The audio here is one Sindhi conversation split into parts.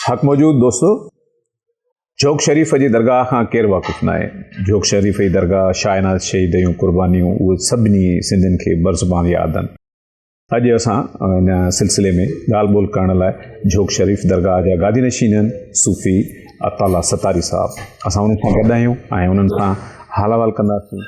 حق موجود دوستو جھوڪ شريف جي درگاهه کان ڪير واقف نه آهي جھوڪ شريف جي درگاهه شاهناز شهيد جون قربانيون اهي سڀني سنڌين کي برزبان ياد آهن اڄ اسان ان سلسلي ۾ ڳالهه ٻولهه ڪرڻ لاء جھوڪ شريف درگاهه جا گادي نشين آهن صوفي عطالا ستاري صاحب اسان انهن سان گڏ آهيون ۽ انهن سان حال احوال ڪنداسين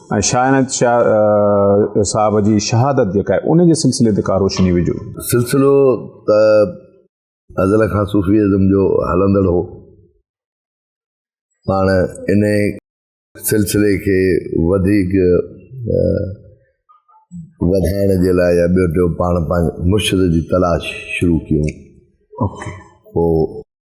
۽ شاهه عنايت شاهه صاحب جي شهادت جيڪا آهي ان جي سلسلي تي ڪا روشني وجهو. سلسلو ته ازل کان صوفي ازم جو هلندڙ هو پاڻ انهي سلسلي کي وڌيڪ وڌائڻ جي لاء يا ٻيو ٽيون پاڻ پنهنجي مرشد جي تلاش شروع ڪيون پوء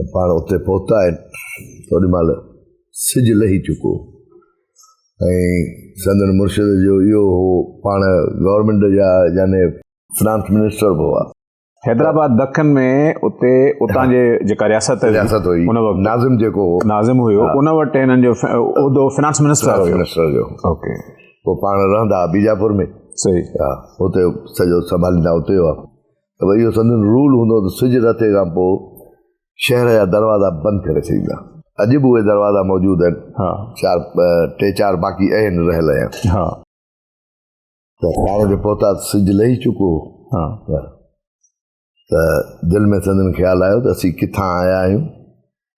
ته پاڻ اتي پهتا آهن ته هن مهل سج لهي چڪو ۽ سندن مرشد جو اهو هو پاڻ گورنمينٽ جا يعني فنانس منسٽر به هئا حيدرآباد دکن ۾ اتي اتان جي جيڪا رياست رياست هئي ان وقت ناظم جيڪو هو ناظم هيو ان وقت هنن جو عہدو فنانس منسٽر هيو منسٽر جو اوڪي پوء پاڻ رهندا بيجاپور ۾ صحيح ها اتي سڄو سنڀاليندا اتي هئا ته اهو سندن رول هوندو ته سج رتي کان پوء شهر جا دروازا بند ڪري ڇڏيندا. اڄ به اهي دروازا موجود آهن. چار ٽي چار باقي اهن رهيل اهيا. ته ساڻ تي پهتا ته سج لهي چڪو هو. ته دل ۾ سندن خيال آيو ته اسين ڪٿان آيا آهيون.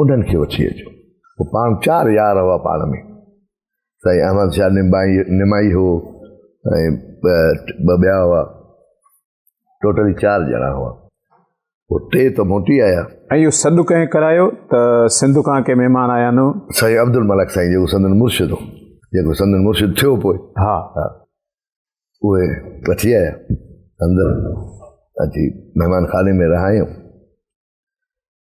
انهن کي وٺي اچو. هو پاڻ چار يار هئا پاڻ ۾، سائين احمد شاهه نمائي هو ۽ ٻه ٻيا هئا، ٽوٽلي چار ڄڻا هئا. هو ٽي ته موٽي آيا. ۽ اهو سڏ ڪنهن ڪرايو ته سنڌ کان ڪي مهمان آيا آهن؟ سائين عبدالملڪ سائين جيڪو سندن مرشد هو، جيڪو سندن مرشد ٿيو پوء. ها. ها. اهي وٺي آيا، اندر اچي مهمان خاني ۾ رهايائون.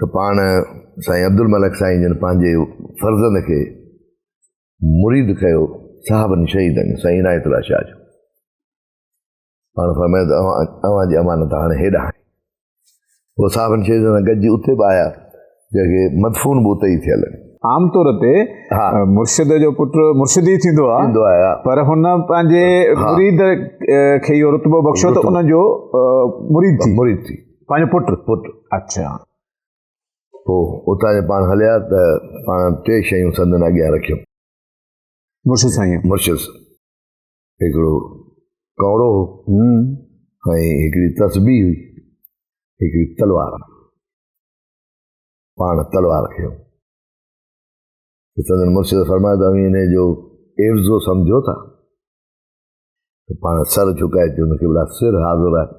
ته پاڻ سائين عبدالملڪ سائين جن پنهنجي فرزند کي مريد ڪيو صحابن شهيدن سائين عنايت الله شاهه جو پاڻ فرمايو ته اوهان اوهان جي امانت هاڻي هيڏانهن آهي پوء صحابن شهيدن سان گڏجي اتي به آيا جنهنکي مدفون به اتي ئي ٿيل آهن عام طور تي مرشد جو پٽ مرشد ئي ٿيندو آهي پر هن پنهنجي مريد کي اهو رتبو بخشيو ته ان جو مريد ٿي مريد ٿي پنهنجو پٽ پٽ اچھا پوء اتان جي پاڻ هليا ته پاڻ ٽي شيون سندن اڳيان رکيون مرشد سائين مرشد هڪڙو ڪورو هو ۽ هڪڙي تسبي هئي هڪڙي تلوار پاڻ تلوار کيو سندن مرشد فرمايو ته اوهين ان جو عفظو سمجھو ٿا پاڻ سر جھڪائي چون ته قبلا سر حاضر آهي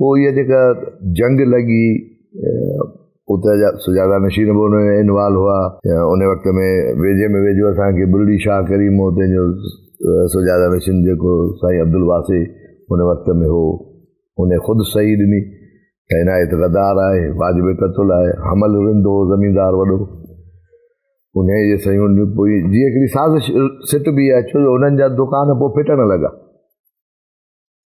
پوء اها جيڪا جنگ لڳي اتي جا سجاده نشين به ان ۾ انوالو هئا ان وقت ۾ ويجهي ۾ ويجهو اسان کي بلڙي شاهه ڪريم هو تنهنجو سجاده نشين جيڪو سائين عبدالواسي ان وقت ۾ هو ان خود صحيح ڏني ته عنايت غدار آهي واجب قتل آهي حمل رند هو زميندار وڏو ان جي سيون پوي جي هڪڙي سازش سٽ بي آهي ڇو جو انهن جا دڪان پوء ڦٽڻ لڳا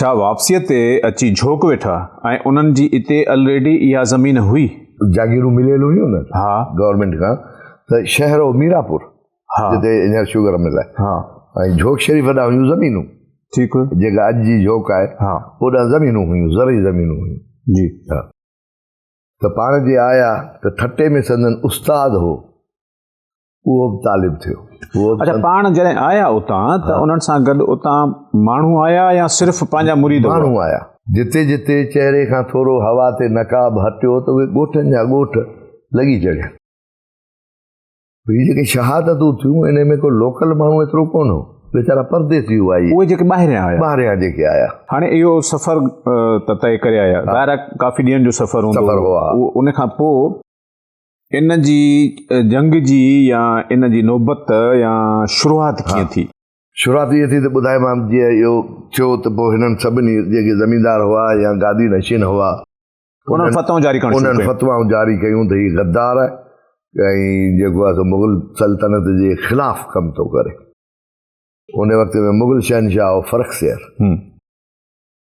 ڇا واپسيء تي اچي جھوڪ ويٺا ۽ انھن جي اتي الريڊي اھا زمين ھئي؟ جاگيرون مليل ھيون نھ ھا. گورنمينٽ کان تھ شھر ھو ميراپور ھا. جتي ھينئر شگر مل آھي ھا. ۽ جھوڪ شريف ڏانھن ھيون زمينون ٺيڪ. جيڪا اڄ جي جھوڪ آھي ھا. اوڏانھن زمينون ھيون زرعي زمينون ھيون جي. ھا. تھ پاڻ جي آيا تھ ٺٽي ۾ سندن استاد ھو اهو به طالب ٿيو اچھا پاڻ جڏهن آيا اتان ته انهن سان گڏ اتان ماڻهو آيا يا صرف پنهنجا مريد ماڻهو آيا جتي جتي چهري کان ٿورو هوا تي نقاب هٽيو ته اهي ڳوٺن جا ڳوٺ لڳي چڙهيا هي جيڪي شهادتون ٿيون ان ۾ ڪو لوڪل ماڻهو ايترو ڪون هو ويچارا پرديسي هئا اهي جيڪي ٻاهريان آيا ٻاهريان جيڪي آيا هاڻي اهو سفر ته طئي ڪري آيا ظاهر ڪافي ڏينهن جو سفر هوندو سفر هو ان کان پوء ان جي جنگ جي يا ان جي نوبت يا شروعات ڪيئن ٿي؟ شروعات ائين ٿي ته ٻڌايومانس جيئن اهو ٿيو ته پوء هنن سڀني جيڪي زميندار هئا يا گادي نشين هئا انهن فتوائون جاري ڪرڻ شروع ڪيون. انهن فتوائون جاري ڪيون ته هي غدار آهي ۽ جيڪو آهي سو مغل سلطنت جي خلاف ڪم ٿو ڪري. ان وقت ۾ مغل شهنشاهه هو فرخ سير.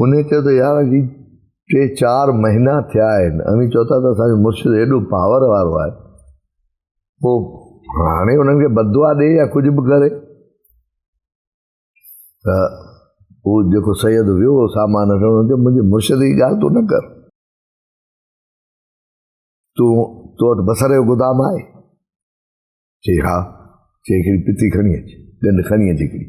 انهيء چيو ته يار اڄ ٽي چار مهينا ٿيا آهن اوهين چئو ٿا ته اسان جو مرشد ايڏو پاور وارو آهي پوء هاڻي انهن کي بدعا ڏي يا ڪجهه به ڪري ته هو جيڪو سيد ويو هو سامان وٺڻ هن چيو منهنجي مرشد جي ڳالهه تون نه ڪر تون تو وٽ بصر جو گدام آهي چي ها چي هڪڙي پتي کڻي اچ ڳنڍ کڻي اچ هڪڙي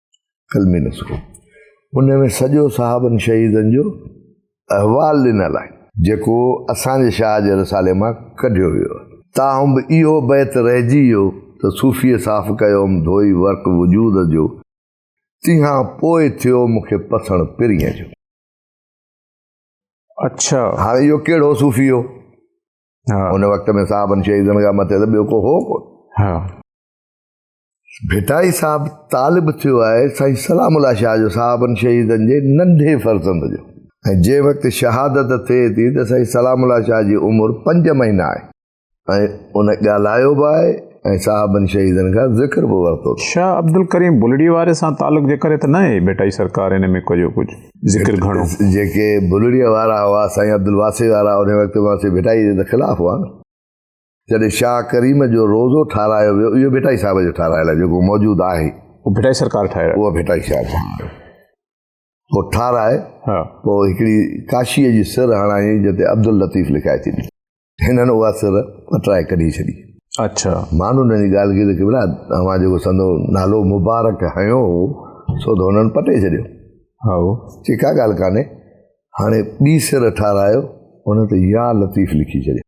قلمي نسخو ان ۾ سڄو صحابن شهيدن جو احوال ڏنل آهي جيڪو اسان جي شاهه جي رسالي مان ڪڍيو ويو آهي تاهم به اهو بيت رهجي ويو ته صوفيء صاف ڪيوم ڌوئي ورق وجود جو تنهان پوء ٿيو مون کي پسڻ پرينء جو اڇا هاڻي اهو ڪهڙو صوفي هو ان وقت ۾ صاحبن شهيدن کان مٿي ته ٻيو ڪو هو ڪو ڀٽائي صاحب طالب ٿيو آهي سائين سلام الله شاهه جو صاحبن شهيدن جي ننڍي فرزند جو ۽ جنهن وقت شهادت ٿئي ٿي ته سائين سلام الله شاهه جي عمر پنج مهينا آهي ۽ ان ڳالهايو به آهي ۽ صاحبن شهيدن کان ذڪر به ورتو شاهه عبدالڪريم بلڙي واري سان تعلق جي ڪري ته نه آهي ڀٽائي سرڪار ان ۾ ڪجو ڪجهه ذڪر گهڻو جيڪي بلڙي وارا هئا سائين عبدالواسي وارا ان وقت واسي ڀٽائي جي ته خلاف هئا نه جڏهن شاهه ڪريم جو روضو ٺاهرايو ويو اهو ڀٽائي صاحب جو ٺاهرايل آهي جيڪو موجود آهي اهو ڀٽائي سرڪار ٺاهرايو اهو ڀٽائي شاهه ٺاهرايو پوء ٺاهرائي ها پوء هڪڙي ڪاشيء جي سر هڻائي جتي عبداللطيف لکائي ٿي هنن اها سر پٽرائي ڪڍي ڇڏي اچھا مان هنن جي ڳالهه کي ته کبرا اوهان جيڪو سندو نالو مبارڪ هنيو هو سو ته هنن پٽي ڇڏيو ها چي ڪا ڳالهه ڪانهي هاڻي ٻي سر ٺاهرايو هن ته يا لطيف لکي ڇڏيو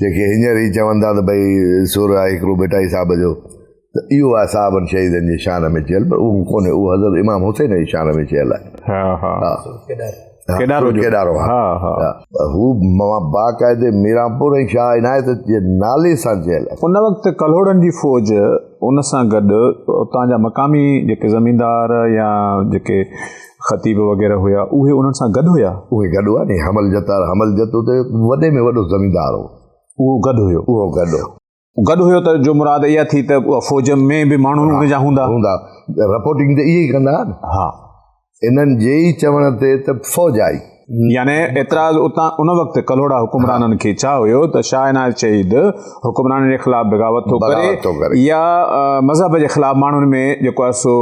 جيڪي هينئر ئي چون ٿا ته ڀئي سر آهي هڪڙو ڀٽائي صاحب جو ته اهو آهي صاحبن شهيدن جي شان ۾ چيل پر اهو ڪونهي اهو حضرت امام حسين جي شان ۾ چيل آهي ها ها ها ڪيڏارو جو ڪيڏارو ها ها هو باقاعده ميرانپور ۽ شاهه عنايت جي نالي سان چيل آهي ان وقت ڪلهوڙن جي فوج ان سان گڏ اتان جا مقامي جيڪي زميندار يا جيڪي خطيب وغيره هيا، اهي انهن سان گڏ هيا؟ اهي گڏ هيا ني، حمل جتار، حمل جت اتي وڏي ۾ وڏو زميندار هو. اهو گڏ هيو؟ اهو گڏ هيو. گڏ هيو ته جو مراد اها ٿي ته اها فوج ۾ به ماڻهو ان جا هوندا؟ هوندا. رپورٽنگ ته اهي ئي ڪندا ها نه. ها. انهن جي ئي چوڻ تي ته فوج آئي. يعني اعتراض اتان ان وقت ڪلهوڙا حڪمرانن کي ڇا هيو ته شاهه عنايت شهيد حڪمرانن جي خلاف بغاوت ٿو ڪري يا مذهب جي خلاف ماڻهن ۾ جيڪو آهي سو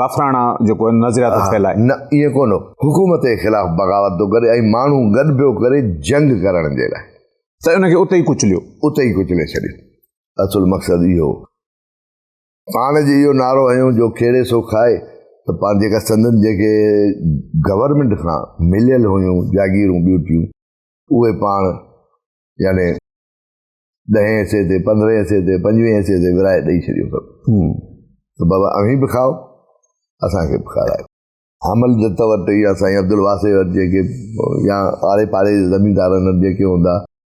ڪافراڻا جيڪو نظريات ٿو ڦهلائي نه ايئن ڪونه حڪومت جي خلاف بغاوت ٿو ڪري ۽ ماڻهو گڏ پيو ڪري جنگ ڪرڻ جي لاء ته ان کي اتي ئي ڪچليو اتي ئي ڪچلي ڇڏيو اصل مقصد اهو پاڻ جي اهو نعرو هنيو جو کيڙي سو کائي ته پاڻ جيڪا سندن جيڪي گورنمنٽ کان مليل هيون جاگيرون ٻيوٽيون اهي پاڻ يعني ڏهين حصي تي پندرهين حصي تي پنجويهين حصي تي ورائي ڏئي ڇڏيو سڀ ته بابا اوهين به کائو اسانکي به کارايو حمل جت وٽ يا سائين عبدالواسع وٽ جيڪي يا آڙي پاڙي زميندارن وٽ جيڪي هوندا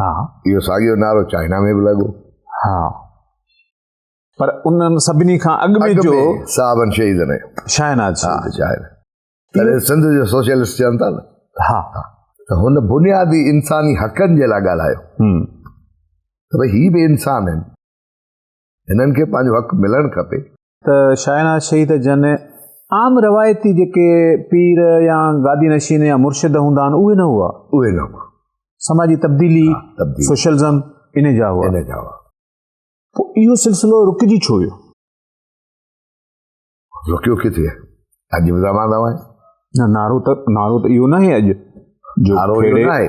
ها اهو ساڳيو نعرو چائنا ۾ به لڳو ها پر انهن سڀني کان اڳ ۾ جو صاحبن شهيدن شاهناز ها شاهناز تڏهن سنڌ جو سوشلسٽ چون ٿا نه ها ته هن بنيادي انساني حقن جي لاء ڳالهايو ته ڀئي هي به انسان آهن هنن کي پنهنجو حق ملڻ کپي. ته شاهناز شهيد جن عام روايتي جيڪي پير يا گادي نشين يا مرشد هوندا آهن اهي نه هئا. اهي نه هئا. سماجي تبديلي، سوشلزم، ان جا هئا. ان جا هئا. پوء اهو سلسلو رڪجي ڇو ويو؟ رڪيو ڪٿي آهي؟ اڄ به زمان زمان آهي. نه نعرو ته نعرو ته اهو ناهي اڄ جو کهڙي.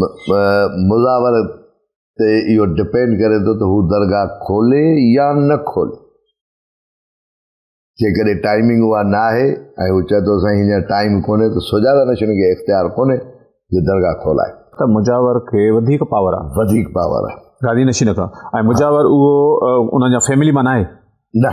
مزاور تي اهو ڊپينڊ ڪري ٿو ته هو درگاهه کولي يا نه کولي جيڪڏهن ٽائمنگ اها نه آهي ۽ هو چئي ٿو سائين هينئر ٽائم ڪونهي ته سجاده نشن کي اختيار ڪونهي جو درگاهه کولائي ته مجاور کي وڌيڪ پاور آهي وڌيڪ پاور آهي گادي نشين کان ۽ مجاور اهو انهن جا فيملي مان آهي نه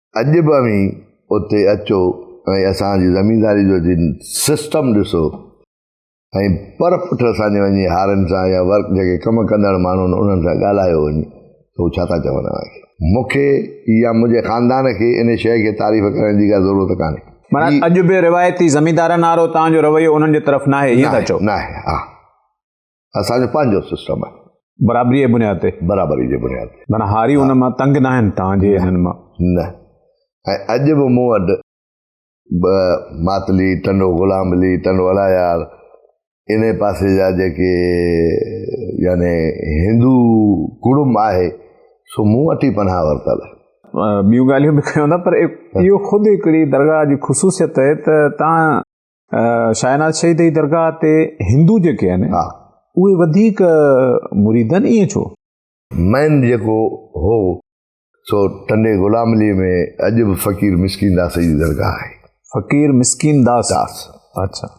اڄ به اوهين اتي اچو ۽ اسان جي زمينداري جو جن سسٽم ڏسو ۽ پر پٺ اسان جي وڃي هارن سان يا ورڪ جيڪي ڪم ڪندڙ ماڻهو آهن انهن سان ڳالهايو وڃي ته هو ڇا ٿا چون اوهان کي مون کي يا منهنجي خاندان کي ان شيء کي تعريف ڪرڻ جي ڪا ضرورت ڪانهي معنيٰ اڄ به روايتي زميندارن وارو توهان جو رويو انهن جي طرف ناهي ائين ٿا چئو ناهي ها اسان جو پنهنجو سسٽم آهي برابري جي بنياد تي برابري جي بنياد تي معنی هاري ان مان تنگ نه آهن تان جي انهن مان نه ۽ اڄ به مون وٽ ماتلي ٽنڊو غلام علي ٽنڊو الايار ان پاسي جا جيڪي يعني هندو ڪڙم آهي سو مون وٽ ئي پناهه ورتل آهي ٻيون ڳالهيون به ڪيون ٿا پر اهو خود هڪڙي درگاهه جي خصوصيت آهي ته تان شاهناز شهيد جي درگاهه تي هندو جيڪي آهن اهي وڌيڪ مريد آهن ائين ڇو مين جيڪو هو سو ٽنڊي غلام علي ۾ اڄ به فقير مسڪين داس جي درگاهه آهي فقير مسڪين داس داس اچھا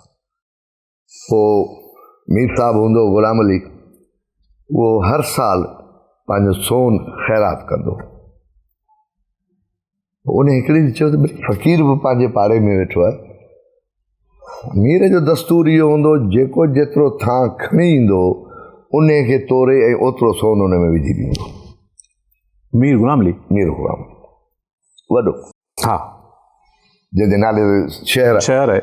پو مير صاحب هوندو غلام علي اهو هر سال پنهنجو سون خيرات ڪندو ان هڪڙي ڏي چيو ته فقير به پنهنجي پاڙي ۾ ويٺو آهي مير جو دستور اهو هوندو جيڪو جيترو ٿان کڻي ايندو ان کي توري ۽ اوترو سون ان ۾ وجهي ڏيندو مير غلام علي مير غلام وڏو ها جنهن جي نالي شهر شهر آهي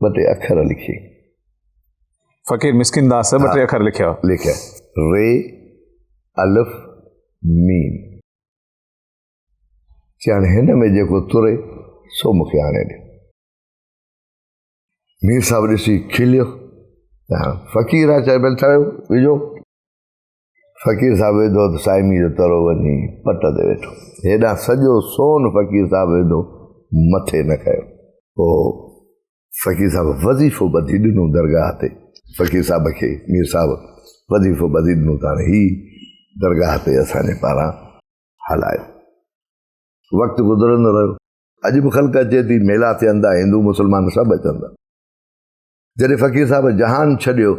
ٻه ٽي اکر لکي فقير مسڪين داس ٻه ٽي اکر لکيا لکيا ري الف ميم چيان هن ۾ جيڪو تري سو مونکي آڻي ڏي مير صاحب ڏسي کليو فقير آ چاهي بل ٿايو وجو فقير صاحب ويڌو ته صائمي جو ترو وڃي پٽ تي ويٺو هيڏانهن سڄو سون فقير صاحب ويڌو مٿي نه ڪيو پوء فقير صاحب وظيفو ٻڌي ڏنو درگاهه تي فقير صاحب کي مير صاحب وظيفو ٻڌي ڏنو ته هاڻي هي درگاهه تي اسان جي پاران هلايو وقت گذرندو رهيو اڄ به خلق اچي ٿي ميلا ٿيندا هندو مسلمان سڀ اچندا جڏهن فقير صاحب جهان ڇڏيو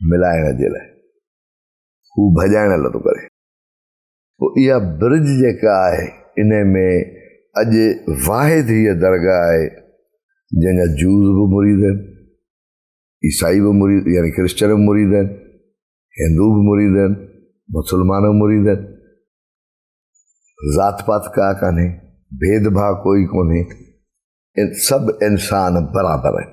ملائڻ جي لاء هو ڀڄائڻ لاء ٿو ڪري. پوء اها برج جيڪا آهي ان ۾ اڄ واحد هيء درگاهه آهي جنهن جا جوز به مريد آهن، عيسائي به مريد يعني ڪرسچن به مريد آهن، هندو به مريد آهن، مسلمان به مريد آهن. ذات پات ڪا ڪانهي، ڀيد ڀاء ڪوئي ڪونهي، سڀ انسان برابر آهن.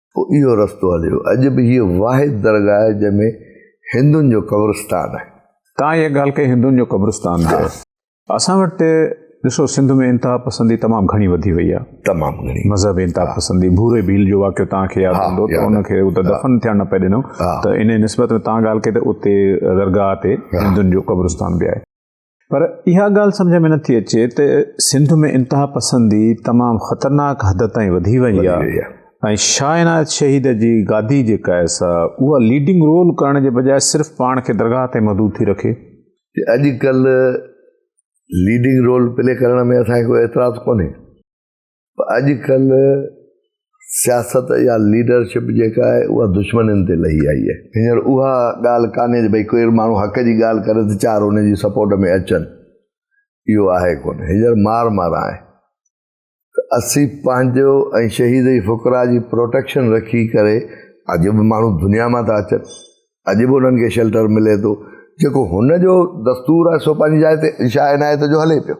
پوء اهو رستو هليو. اڄ به هيء واحد درگاهه آهي، جنهن ۾ هندن جو قبرستان آهي. تان اها ڳالهه ڪئي هندن جو قبرستان به آهي. اسان وٽ ڏسو سنڌ ۾ انتها پسندي تمام گهڻي وڌي وئي آهي. تمام گهڻي. مذهبي انتها پسندي. ڀوري ڀيل جو واقعو توهان کي ياد هوندو ته ان کي اتي دفن ٿيڻ نه پئي ڏنو ته انهيء نسبت ۾ توهان ڳالهه ڪئي ته اتي درگاهه تي هندن جو قبرستان به آهي. پر اها ڳالهه سمجهه ۾ نٿي اچي ته سنڌ ۾ انتها پسندي تمام خطرناڪ حد تائين وڌي وئي آهي ۽ شاهه عنايت شهيد جي گادي جيڪا آهي سا اها ليڊنگ رول ڪرڻ جي بجاء صرف پاڻ کي درگاهه تي محدود ٿي رکي اڄڪلهه ليڊنگ رول پلي ڪرڻ ۾ اسان کي ڪو اعتراض ڪونهي اڄ ڪلهه سياست يا ليڊرشپ جيڪا آهي اها دشمنين تي لهي آئي آهي هينئر اها ڳالهه ڪانهي جو ڀئي ڪوئي ماڻهو حق جي ڳالهه ڪري ته چار ان جي سپورٽ ۾ اچن اهو آهي ڪونه هينئر مار مار آهي ته اسين پنهنجو ۽ شهيد جي فقرا جي پروٽيڪشن رکي ڪري اڄ به ماڻهو دنيا مان ٿا اچن اڄ به انهن کي شيلٽر ملي ٿو جيڪو هن جو دستور آهي سو پنهنجي جاء تي شاهه عنايت جو هلي پيو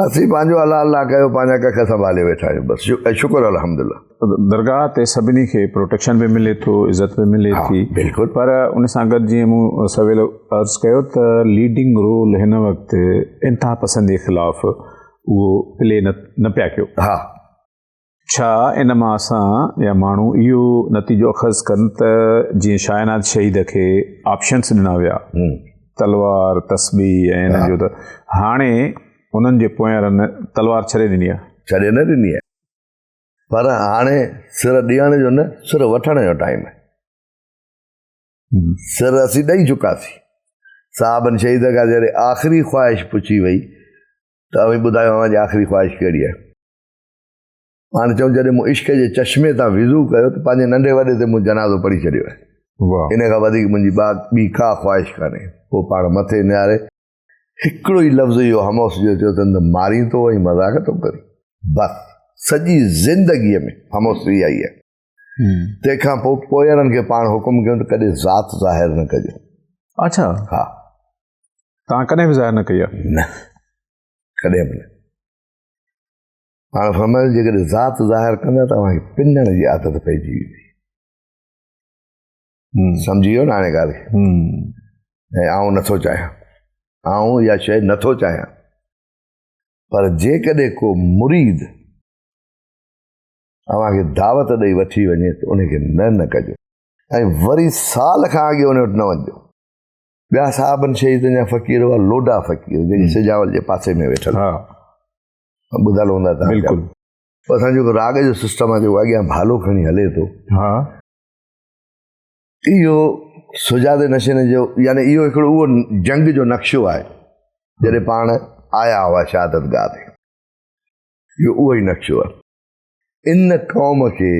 اسين پنهنجو حلال نه ڪيو پنهنجا ڪک سنڀالي ويٺا آهيون بس شڪر الحمدلله درگاهه تي سڀني کي پروٽيڪشن به ملي ٿو عزت به ملي ٿي بلڪل پر ان سان گڏ جيئن مون سويل عرض ڪيو ته ليڊنگ رول هن وقت انتها پسندي خلاف اهو پلي نه پيا ڪيو ها ڇا ان مان اسان يا ماڻهو اهو نتيجو اخذ ڪن ته جيئن شاهناد شهيد کي آپشنس ڏنا ويا تلوار، تسبيح ۽ انهن جو ته هاڻي انهن جي پويارن تلوار ڇڏي ڏني آهي. ڇڏي نه ڏني آهي پر هاڻي سر ڏيڻ جو نه سر وٺڻ جو ٽائيم آهي. سر اسين ڏئي چڪاسين. صاحبن شهيد کان جڏهن آخري خواهش پڇي وئي ته اوهين ٻڌايو اوهان جي آخري خواهش ڪهڙي آهي؟ هاڻي چون جڏهن مون عشق جي چشمي تان وضو ڪيو ته پنهنجي ننڍي وڏي تي مون جنازو پڙهي ڇڏيو آهي ان کان وڌيڪ منهنجي ٻي ڪا خواهش ڪانهي پوء پاڻ مٿي نهاري هڪڙو ئي لفظ اهو هموس جو چيو اٿن ته مارين ٿو ۽ مذاق ٿو ڪرين بس سڄي زندگي ۾ هموس اها ئي آهي تنهن کان پوء پوئرن کي پاڻ حڪم ڪيو ته ڪڏهن ذات ظاهر نه ڪجو اچھا ها تان ڪڏهن به ظاهر نه ڪئي نه ڪڏهن به نه هاڻ فرمايو جيڪڏهن ذات ظاهر ڪندا ته اوهان کي پنڻ جي عادت پئجي ويندي سمجھي ويو نه هاڻي ڳالهه ۽ آئون نٿو چاهيان آئون اها شي نٿو چاهيان پر جيڪڏهن کو مريد اوهان کي دعوت ڏئي وٺي وڃي ته ان کي نه نه ڪجو ۽ وري سال کان اڳي ان وٽ نه وڃجو ٻيا صاحبن شهيدن جا فقير هئا لوڊا فقير جيڪي سجاول جي پاسي ۾ ويٺل ٻڌل هوندا تان بلڪل اسان جو راڳ جو سسٽم آهي جو اڳيان ڀالو کڻي هلي ٿو ها اهو سجاد نشين جو يعني اهو هڪڙو اهو جنگ جو نقشو آهي جڏهن پاڻ آيا هئا شهادت گاهه تي اهو اهو ئي نقشو آهي ان قوم کي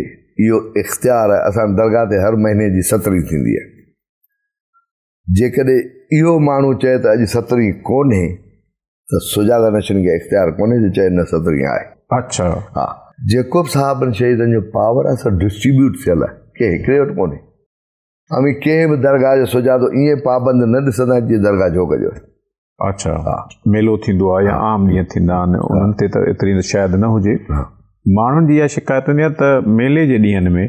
اهو اختيار اسان درگاهه تي هر مهيني جي سترين ٿيندي آهي جيڪڏهن اهو ماڻهو چئي ته اڄ سترهين ڪونهي ته سجاڳا نشين کي اختيار ڪونهي جو چئي نه سترهين آهي. اڇا. ها. جيڪوب صاحبن شهيدن جو پاور آهي سو ڊسٽريبيوٽ ٿيل آهي ڪنهن هڪڙي وٽ ڪونهي. اوهين ڪنهن به درگاهه جو سجادو ائين پابند نه ڏسندا جيئن درگاهه جوڳ جو هجي. اڇا. ها. ميلو ٿيندو آهي يا عام ڏينهن ٿيندا آهن انهن تي ته ايتري شايد نه هجي. ماڻهن جي اها شڪايت هوندي آهي ته ميلي جي ڏينهن ۾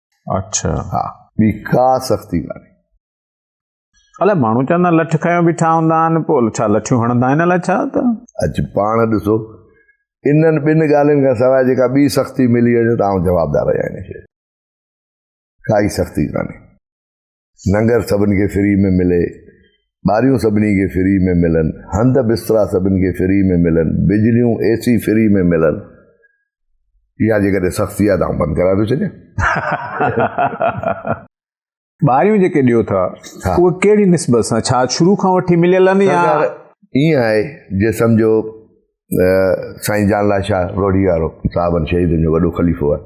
اڇا ها ٻي ڪا سختي ڪانهي الاء ماڻهو چوندا آهن لٺ کنيو بيٺا هوندا آهن پوء ڇا لٺيون هڻندا آهن الاء ڇا ته اچ پاڻ ڏسو انهن ٻن ڳالهين کان سواء جيڪا ٻي سختي ملي وڃي ته آئون جوابدار آهيان ان شي کي ڪائي سختي ڪانهي ننگر سڀن کي فري ۾ ملي، ٻاريون سڀني کي فري ۾ ملن، هنڌ بسترا سڀن کي فري ۾ ملن، بجليون، اي سي فري ۾ ملن. اها جيڪڏهن سختي آهي ته آئون بند ڪرائي ٿو ڇڏيان. ٻاريون جيڪي ڏيو ٿا اهي ڪهڙي نسبت سان ڇا شروع کان وٺي مليل آهن يا ائين آهي جي سمجهو سائين جان لاء شاهه روهڙي وارو صاحبن شهيدن جو وڏو خليفو آهي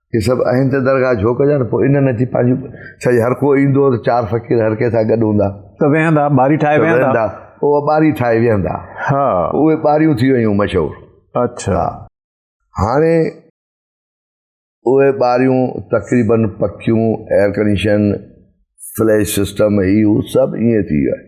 هي سڀ اهين ته درگاهه جهوڪ جا نه پوء ان نه ٿي پنهنجون ڇا هر ڪو ايندو ته چار فقير هر ڪنهن سان گڏ هوندا ته ويهندا ٻاري ٺاهي ويهندا اهي ٻاري ٺاهي ويهندا ها اهي ٻاريون ٿي ويون مشهور اڇا هاڻي اهي ٻاريون تقريبن پڪيون ايئر ڪنڊيشن فليش سسٽم هي هو سڀ ائين ٿي ويو آهي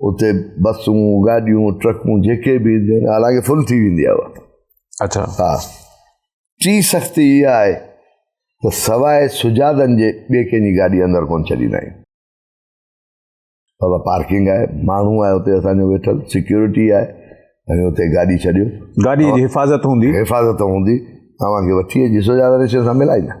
اتي بسون گاڏيون ٽرڪون جيڪي به اينديون آهن حالانڪ فل ٿي ويندي آهي اها اچھا ها ٽي سختي اها آهي ته سواء سجادن جي ٻي ڪنهن جي گاڏي اندر ڪونه ڇڏيندا آهيون بابا پارڪنگ آهي ماڻهو آهي اتي اسانجو ويٺل سيڪيورٽي آهي ۽ اتي گاڏي ڇڏيو گاڏي جي حفاظت هوندي حفاظت هوندي اوهان کي وٺي اچي سجادن سان ملائيندا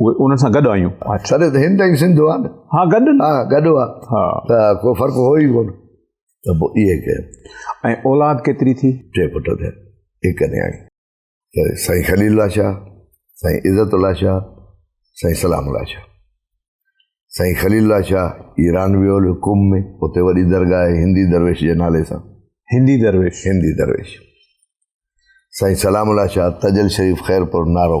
اهي انهن سان گڏ آيون سر ته هند ۽ سنڌ هئا نه ها گڏ ها گڏ هئا ها ته ڪو فرق هو ئي ڪونه ته پوء اهي ڪيا ۽ اولاد ڪيتري ٿي ٽي پٽ ٿيا هڪ نياڻي ته سائين خليل الله شاهه سائين عزت الله شاهه سائين سلام الله شاهه سائين خليل الله شاهه ايران ويو هليو قم ۾ اتي وڏي درگاهه آهي هندي درويش جي نالي سان هندي درويش هندي درويش سائين سلام الله شاهه تجل شريف خيرپور نارو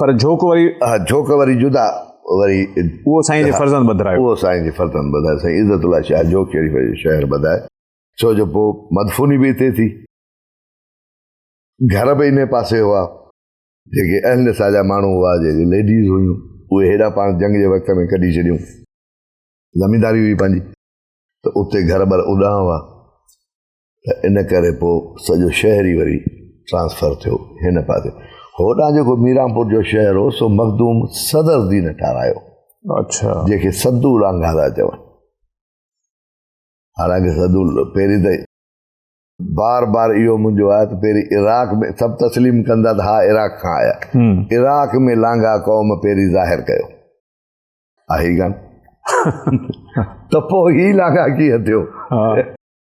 پر جھوڪ وري ها جھوڪ وري جدا وري اهو سائين جي فرزند ٻڌرايو اهو سائين جي فرزند ٻڌايو سائين عزت الله شاهه جھوڪ شريف جو شهر ٻڌائي ڇو جو پوء مدفوني به هتي ٿي گھر به انهي پاسي هئا جيڪي اهل نساء جا ماڻهو هئا جيڪي ليڊيز هيون اهي هيڏا پاڻ جنگ جي وقت ۾ ڪڍي ڇڏيون زمينداري هئي پنهنجي ته اتي گھر بر اڏاڻ هئا ته ان ڪري پوء سڄو شهر ئي وري ٽرانسفر ٿيو هن پاسي هوڏانهن جيڪو ميرانپور جو شهر هو سو مخدوم صدر الدين ٺارايو اچھا جيڪي سدو لانگا ٿا چون حالانڪه سدو پهرين ته بار بار اهو منهنجو آهي ته پهرين عراق ۾ سڀ تسليم ڪندا ته ها عراق کان آيا عراق ۾ لانگا قوم پهرين ظاهر ڪيو آهي ڪان ته پوء هي لانگا ڪيئن ٿيو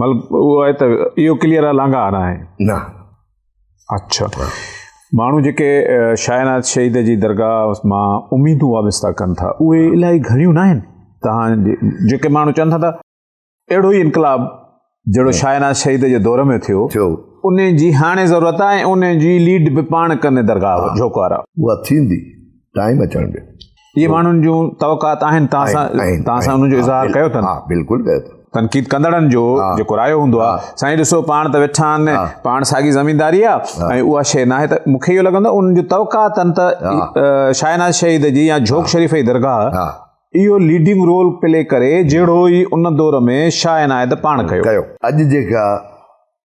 مطلب اهو آهي ته اهو ڪليئر آهي لانگا آنا آهي نه اچھا ماڻهو جيڪي شاهناز شهيد جي درگاهه مان اميدون وابستا ڪن ٿا اهي الاهي گهڻيون نه آهن تهان جيڪي ماڻهو چون ٿا ته اهڙو ئي انقلاب جهڙو شاهناز شهيد جي دور ۾ ٿيو ٿيو ان جي هاڻي ضرورت آهي ان جي ليڊ به پاڻ ڪن درگاهه جوڪارا اها ٿيندي ٽائيم اچڻ ڏيو اهي ماڻهن جون توقعات آهن توهان سان توهان سان ان جو اظهار ڪيو اٿن ها بلڪل ڪيو اٿن تنقيد ڪندڙن جو جيڪو رايو هوندو آهي سائين ڏسو پاڻ ته ويٺا آهن پاڻ ساڳي زمينداري آهي ۽ اها شيء ناهي ته مون کي اهو لڳندو آهي ان جون توقعات اٿن ته شاهناز شهيد جي يا جھوڪ شريف جي درگاهه اهو ليڊنگ رول پلي ڪري جهڙو ئي ان دور ۾ شاهه عنايت پاڻ ڪيو اڄ جيڪا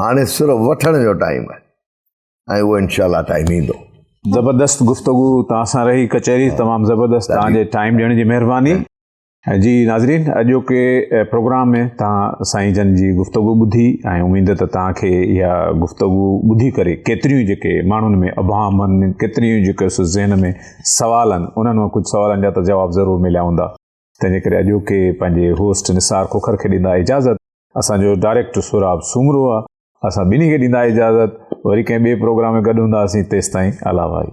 هاڻي سر وٺڻ جو ٽائيم آهي ۽ اهو انشاء الله ٽائيم ايندو زبردست گفتگو توهان سان رهي ڪچهري ہاں۔ تمام زبردست جی۔ توهان جي ٽائيم ڏيڻ جي مهرباني ہاں۔ جي ناظرين اڄوڪي پروگرام ۾ توهان سائين جن جي گفتگو ٻڌي ۽ اميد ته توهان کي اها گفتگو ٻڌي ڪري ڪيتريون جيڪي ماڻهن ۾ ابهام آهن ڪيتريون جيڪي ذهن ۾ سوال آهن انهن مان ڪجهه سوالن جا ته جواب ضرور مليا هوندا تنهنجي ڪري اڄوڪي پنهنجي هوسٽ نثار کوکر کي ڏيندا اجازت اسان جو ڊائريڪٽ سهراب سومرو آ اسان ٻنهي کي ڏيندا اجازت وري ڪنهن ٻي پروگرام ۾ گڏ هونداسين تيستائين الاوائي.